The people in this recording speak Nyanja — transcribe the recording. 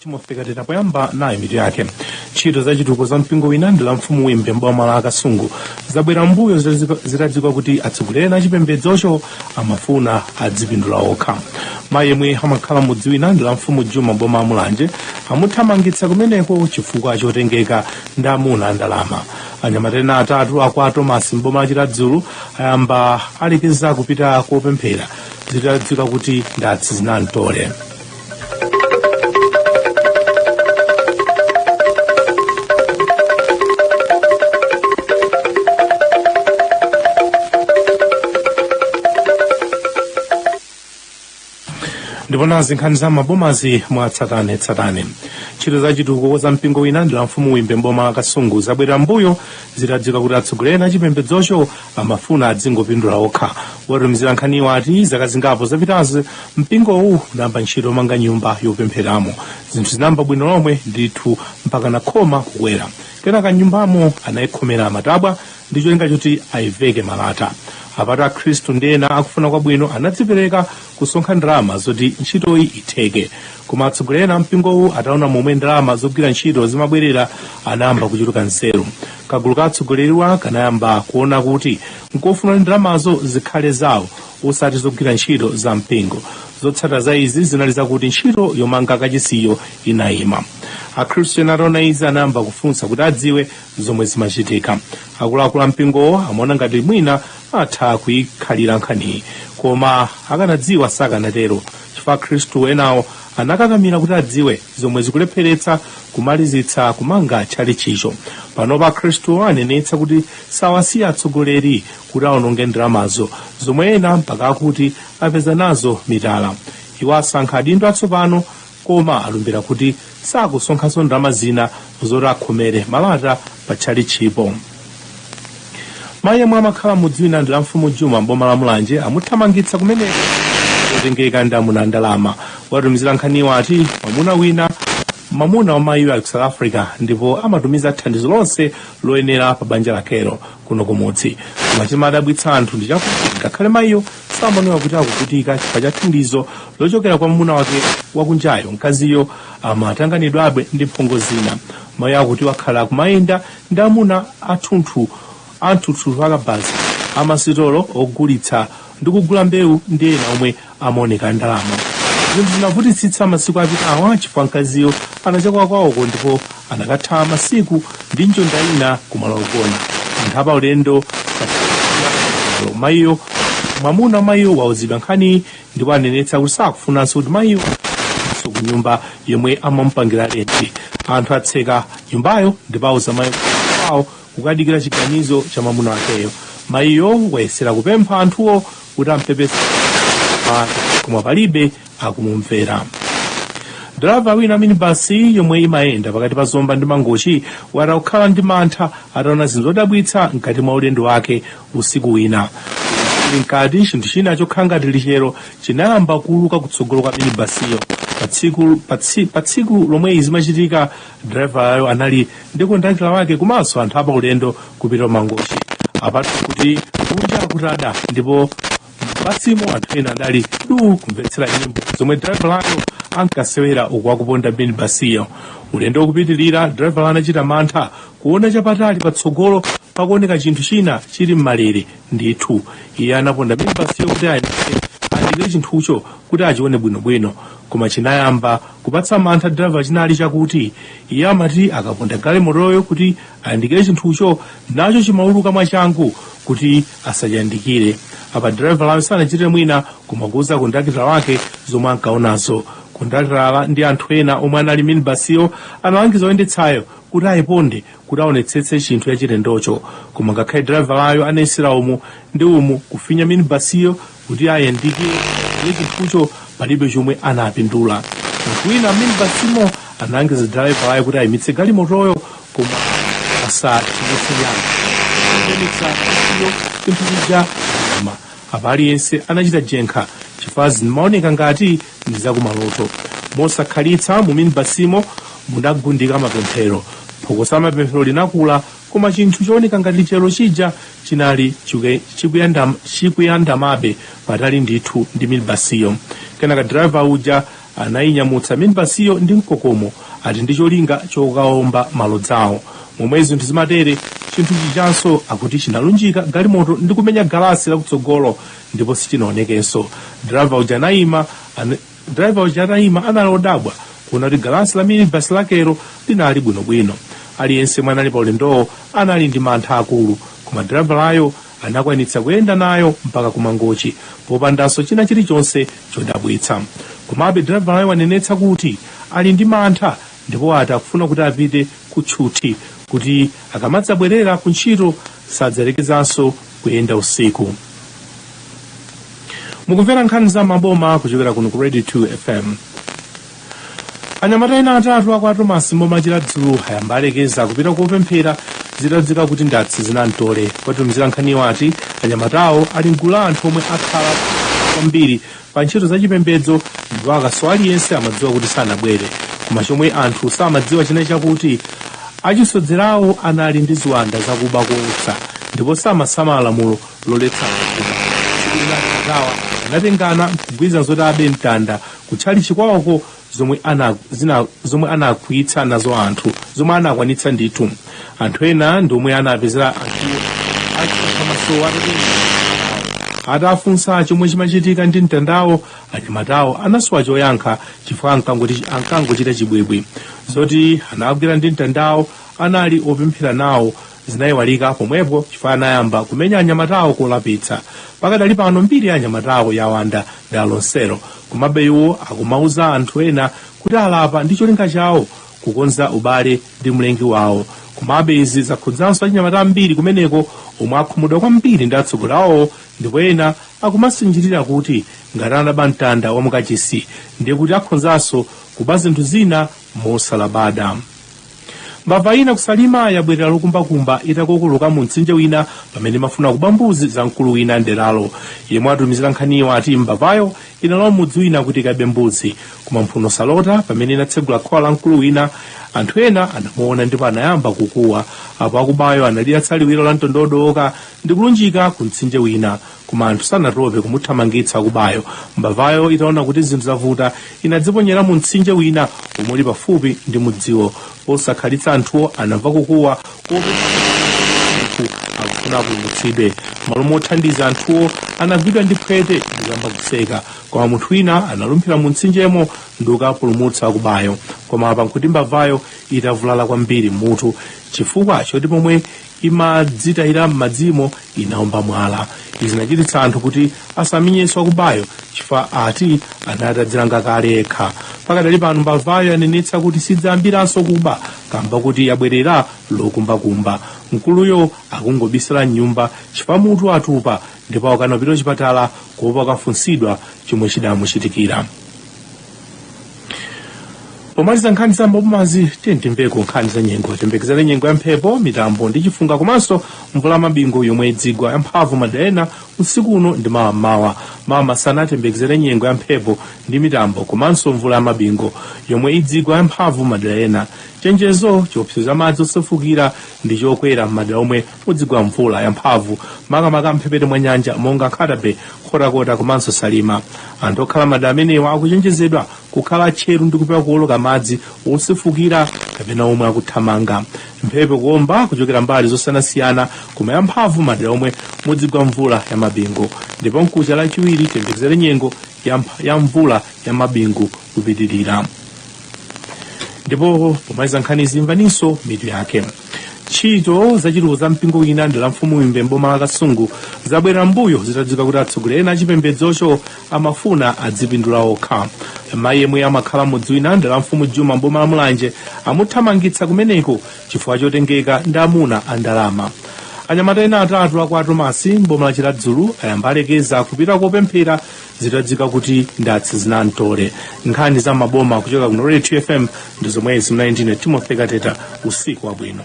timothy kateta poyamba nayi mitu yake ntchito za chitukuko za mpingo wina mdera la mfumu wimbe mboma la kasungu zabwera mbuyo zitadziwika kuti atsogoleri a chipembedzocho amafuna adzipindula okha mayi yemwe amakhala mudzi wina mdera la mfumu juma mboma la mulanje amuthamangitsa kumeneko chifukwa chotengeka ndi amuna andalama anyamata ena atatu akwa tomasi mboma la chiradzulu ayamba alekeza kupita kopemphera zitadziwika kuti ndi atsizinamtole ndipo nazi nkhani za mmabomazi mwatsatanetsatane ntchito za chitukuko za mpingo wina mdera la mfumu wimbe mboma la kasungu zabwerera mbuyo zitadziwika kuti atsogoleri a chipembedzocho amafuna adzingopindula okha wotumizira nkhaniwo ati zaka zingapo zapitazi mpingowu unayamba ntchito yomanga nyumba yopempheramo zinthu zinayamba bwino lomwe ndithu mpakana khoma kukwera kenaka nyumbamo anayikhomera matabwa ndi cholinga choti ayiveke malata apatu akhristu ndi ena akufuna kwabwino anadzipereka kusonkha ndalama zoti ntchitoyi itheke koma atsogoleri ena ampingowu ataona momwe ndalama zogwira ntchito zimabwerera anayamba kuchuluka nzeru kagulu ka atsogoleriwa kanayamba kuona kuti nkofunika kuti ndalamazo zikhale zawo osati zogwira ntchito za mpingo zotsata za izi zinali zakuti ntchito yomanga kachisiyo inayima akhristu ena ataona izi anayamba kufunsa kuti adziwe zomwe zimachitika akuluakulu ampingowo amaona ngati mwina atha kuyikhalira nkhaniyi koma akanadziwa sakanatero chifukwa akhristu enawo anakakamira kuti adziwe zomwe zikulepheretsa kumalizitsa kumanga tchalitchicho panopa akhristuwa anenetsa kuti sawasiya atsogoleri kuti aononge ndalamazo zomwe ena mpaka akuti apeza nazo mitala iwo asankha adindo atsopano koma alumbira kuti sakusonkhanso ndalama zina zoti akhomere malata pa tchalitchipo mayi yemwe amakhala mudzi wina mdera la mfumu juma mboma la mulanje amuthamangitsa kumeneko kotengeka ndi amuna a ndalama wotumizira nkhaniwo ati mwamuna wina mwamuna wa mayiyo ali ku south africa ndipo amatumiza thandizo lonse loyenera pa banja lakelo kuno kumudzi koma chimadabwitsa anthu ndi chakuti ngakhale mayiyo samaoneka kuti akuvutika chifukwa cha thandizo lochokera kwa mwamuna wake wakunjayo mkaziyo amatanganidwabe ndi mphongo zina mayi akuti wakhala akumayenda ndi amuna athunthu anthuthuthu akabaza amasitolo ogulitsa ndi kugula mbewu ndi ena omwe amaoneka andalama zinthu zinavutitsitsa masiku apitawa chifukwa mkaziyo anachokera kwawoko ndipo anakatha masiku ndi njonda ina kumalo ogona anthu apaulendo alowa mayiyo mwamuna wa mayiyo wauzidwa nkhaniyi ndipo anenetsa kuti sakufunanso kuti mayiyo so ku nyumba yomwe amamupangira lenti anthu atseka nyumbayo ndipo auza mayi kwawo kukadikira chiganizo cha mwamuna wakeyo mayiyo wayesera kupempha anthuwo kuti ampepese koma palibe akumumvera driver wina minibasi yomwe imayenda pakati pa zomba ndi mangochi wati akukhala ndi mantha ataona zinthu zodabwitsa mkati mwa ulendo wake usiku wina ili mkati chinthu china chokhala ngati lichero chinayamba kuuluka kutsogolo kwa minibasiyo pa tsiku lomwe izi zimachitika drivalayo anali ndi kondakitala wake komanso anthu apa ulendo kupita mangochi apatu kuti kunja kutada ndipo m'basimo anthu ena adali du kumvetsera nyimbo zomwe drivalayo ankasewera uku akuponda minibasiyo ulendo ukupitirira drivala anachita mantha kuona chapatali patsogolo pakuoneka chinthu china chili m'malere ndithu iye anaponda minibasiyo kuti ayandikire chinthucho kuti achione bwinobwino koma chinayamba kupatsa mantha driver chinali chakuti iye amati akaponda galimotoyo kuti ayandikire chinthucho nacho chimauluka mwachangu kuti asachiyandikire apa driverayo sanachitire mwina koma kuuza kondakitala wake zomwe ankaonazo kondakitala ndi anthu ena omwe anali minibasiyo analangiza oyendetsayo kuti ayiponde kuti aonetsetse chinthu chachilendocho koma ngakhale diravalayo anayesera umu ndi umu kufinya minibasiyo kuti ayandikire chinthucho palibe chomwe anapindula munthu wina minibasimo analangiza diravalayo kuti ayimitse galimotoyo koma asathimitse nyale ayimitsa basiyo chinthu chija koma apa aliyense anachita jenkha chifukwa zimaoneka ngati ndi zakumaloto mosakhalitsa mu minibasimo munagundika mapemphero phokoso la mapemphero linakula koma chinthu chooneka ngati lichero chija chinali chikuyandamabe patali ndithu ndi minibasiyo kenaka driver uja anayinyamutsa minibasiyo ndi mkokomo ati ndi cholinga chokaomba malodzawo momwe zinthu zimatere chinthu chijanso akuti chinalunjika galimoto ndi kumenya galasi lakutsogolo ndipo sichinaonekenso driver uja anayima anali odabwa kuona kuti galasi la minibasi yakeyo linali bwinobwino aliyense yemwe anali pa ulendowo anali ndi mantha akulu koma driverayo anakwanitsa kuyenda nayo mpaka kumangochi popandanso china chilichonse chodabwitsa komabe driverayo wanenetsa kuti ali ndi mantha ndipo ati akufuna kuti apite ku tchuthi kuti akamadzabwerera ku ntchito sadzalekezanso kuyenda usiku mukumvera nkhani za m'maboma kuchokera kuno ku radio 2 fm anyamata ena atatu a kwa Thomas m'boma la Chiradzulu ayamba alekeza kupita kopemphera zitadziwika kuti ndatsi zinamtole watumizira nkhaniyo ati anyamatawo ali mgulu la anthu omwe akhala kwambiri pa ntchito za chipembedzo ndipo akasowa aliyense amadziwa kuti sanabwere koma chomwe anthu samadziwa china chakuti achisodzerawo anali ndi ziwanda zakuba koopsa ndipo samasamala lamulo loletsa kuba tsiku lina akawa anatengana nkugwirizana zoti abe mtanda kutchalitchi kwawoko zomwe ana zina zomwe anakwitsa nazo anthu zomwe anakwanitsa ndithu anthu ena ndi omwe anapezera anthu achinyamatawo atafunsa chomwe chimachitika ndi mtandawo anyamatawo anasowa choyankha chifukwa ankangoti- ankangochita chibwibwi zoti anagwidwa ndi mtandawo anali opemphera nawo zinayiwalika pomwepo chifukwa anayamba kumenya anyamatawo kolapitsa pakadali pano mbiri ya anyamatawo yawanda dera lonselo komabe iwo akumauza anthu ena kuti alapa ndi cholinga chawo kukonza ubale ndi mlengi wawo komabe izi zakhudzanso achinyamata ambiri kumeneko omwe akhumudwa kwambiri ndi atsogoleri awo ndipo ena akumasinjirira kuti ngati anaba mtanda wa mukachisi ndiye kuti akhonzanso kuba zinthu zina mosalabada mbava ina ku Salima yabwerera lokumbakumba itakokoloka mu mtsinje wina pamene imafuna kuba mbuzi za mkulu wina mderalo yemwe watumizira nkhaniyo ati mbavayo inalowa m'mudzi wina kuti ikabe mbuzi koma mphuno salota pamene inatsegula khola la mkulu wina anthu ena anamuona ndipo anayamba kukuwa apo wakubayo analiyatsa liwiro la mtondodoka ndi kulunjika ku mtsinje wina koma anthu sanatope kumuthamangitsa wakubayo mbavayo itaona kuti zinthu zavuta inadziponyera mu mtsinje wina omwe uli pafupi ndi mudziwo posakhalitsa anthuwo anamva kukuwa kwa munthu akufuna apulumutsidwe malo mothandiza anthuwo anagwidwa ndi phwete ndikuyamba kuseka koma munthu wina analumphira mu mtsinjemo ndi kukapulumutsa wakubayo koma apa nkuti mbavayo itavulala kwambiri m'mutu chifukwa choti pomwe imadzitayira m'madzimo inaomba mwala izi zinachititsa anthu kuti asamenyenso wakubayo chifukwa ati anali atadzilanga kale yekha pakadali pano mbavayo yanenetsa kuti sidzayambiranso kuba kamba kuti yabwerera lokumbakumba mkuluyo akungobisala mnyumba chifukwa mutu watupa ndipo akukana kupita kuchipatala kuopa akafunsidwa chomwe chidamuchitikira pomaliza nkhani za m'mabomazi tiyendimveko nkhani za nyengo tiyembekezere nyengo ya mphepo mitambo ndi chifunga komanso mvula ya mabingu yomwe idzigwa yamphamvu m'madera ena usiku uno ndi mawa mmawa mawa masana tiyembekezere nyengo ya mphepo ndi mitambo komanso mvula ya mabingu yomwe idzigwa yamphamvu m'madera ena chenjezo chiopsezo cha madzi osefukira ndi chokwera m'madera omwe mudzigwa mvula yamphamvu makamaka mphepete mwa nyanja monga nkhata bay nkhotakota komanso salima anthu okhala madera amenewa akuchenjezedwa kukhala tcheru ndi kupewa kuoloka madzi osefukira kapena omwe akuthamanga mphepo ikuomba kuchokera mbali zosiyanasiyana koma yamphamvu madera omwe mudzigwa mvula ya mabingu ndipo mkucha lachiwiri tiyembekezere nyengo ya mvula ya mabingu kupitirira ndipo pomaliza nkhanizi imvaninso mitu yake ntchito zachitukuko za mpingo wina mdera la mfumu wimbe mboma la kasungu zabwerera mbuyo zitadziwika kuti atsogoleri ena achipembedzocho amafuna adzipindula okha mayi yemwe amakhala mmudzi wina mdera la mfumu juma mboma la mulanje amuthamangitsa kumeneko chifukwa chotengeka ndi amuna a ndalama anyamata ena atatu akwa tomasi mboma la chiradzulu ayamba alekeza kupita kopemphera zitadziwika kuti ndatsi zinamtole nkhani za maboma kuchokera kuno radio 2 fm ndi zomwezi mnayi ndine timothy kateta usiku wabwino